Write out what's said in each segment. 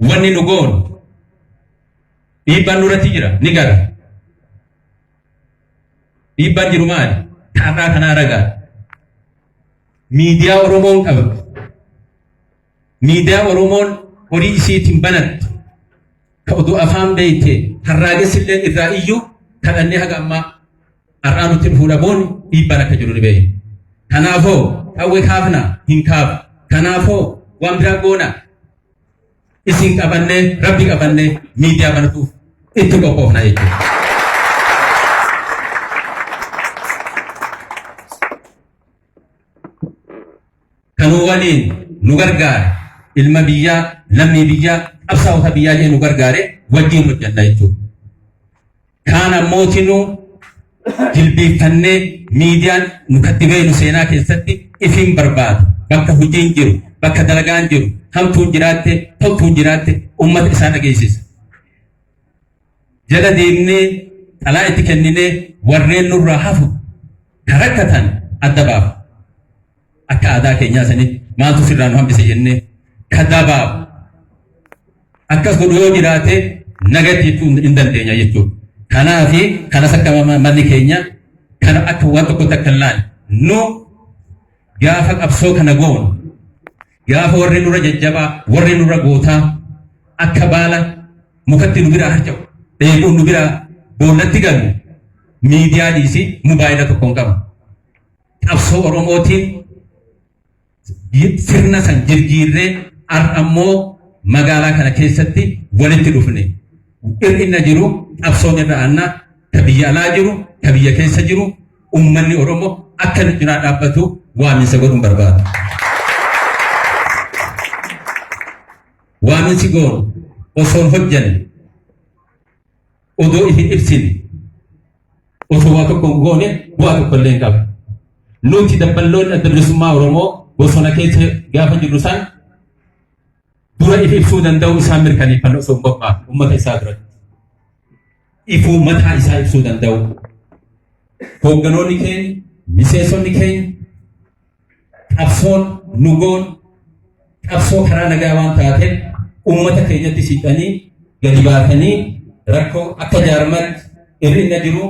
Wanni nu goonu dhiibbaan nurratti jira ni gara. Dhiibbaan jiru maali? Taarraa kanaa ragaa. Miidiyaa Oromoon qabdu. Miidiyaa Oromoon horii isiitiin banattu. Ka oduu afaan beeyte harraagessi illee irraa iyyuu kadhannee haga ammaa Har'aa nutti dhufuu dhabuun dhiibbaan akka jiru ni beekna. Kanaafoo qawwee kaafna hin kaafu. Kanaafoo waan biraa goona isin qabannee rabbi qabannee miidiyaa banatuuf itti qophoofna jechuudha. Kanuu waliin nu gargaare ilma biyyaa lammii biyyaa qabsaa'ota biyyaa jee nu gargaare wajjin hojjanna jechuudha. kaan ammootinuu jilbiiffannee miidiyaan nu katti beenu seenaa keessatti ifiin barbaadu bakka hojiin jiru bakka dalagaan jiru hamtuun jiraatte toltuun jiraatte uummata isaa dhageessisa. Jala deemnee xalaa itti kenninee warreen nurraa hafu kan rakkatan adda baafa. Akka aadaa keenyaa sanii maaltu sirraa nu hambise jennee kadabaa akkas godhu yoo jiraate nagatti jechuu hin dandeenya jechuudha. Kanaaf kanas akka manni keenya kana akka waan tokkotti akka hin laanne nu gaafa qabsoo kana goonu gaafa warri nurra jajjabaa warri nurra gootaa akka baala mukatti nu biraa harca'u dheekuun nu biraa boollatti galu miidiyaa dhiisii mobaayila tokkoon qabu. qabsoo Oromootiin sirna san jirjiirree har'a immoo magaalaa kana keessatti walitti dhufne. Hir'ina jiru qabsoon irra aannaa ta biyya alaa jiru ta biyya keessa jiru uummanni Oromoo akka nu cinaa dhaabbatu waaminsa godhuun barbaada. Waaminsi goonu osoo hin hojjanne odoo isin ibsine osoo waa tokko hin goone bu'aa tokko illee hin qabu. Nuti dabballoonni adda bilisummaa Oromoo bosona keessa gaafa jirru san dura if ibsuu danda'u isaan mirkaneeffannoo osoo hin qophaa'e uummata isaa duratti. Ifuu mataa isaa ibsuu danda'u. Hoogganoonni keenya, miseensonni keenya Qabsoon nu goon qabsoo karaa nagaa waan taateef uummata keenyatti siqanii gadi baatanii rakkoo akka jaarmatti irrinna jiru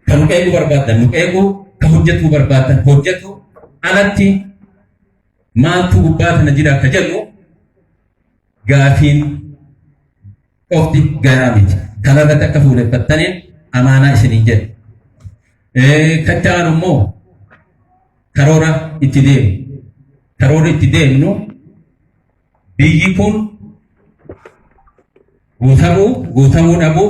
kan nu qeequu barbaadan nu qeequu kan hojjetuu barbaadan hojjetu alatti maaltu gubbaa kana jira akka jedhu gaafiin qofti gahaa miti. Kana irratti akka fuuleffattaniin amaanaa isiniin jedha. Kan ta'an immoo karoora itti deemu. Karoora itti deemnu biyyi kun guutamuu guutamuu dhabuu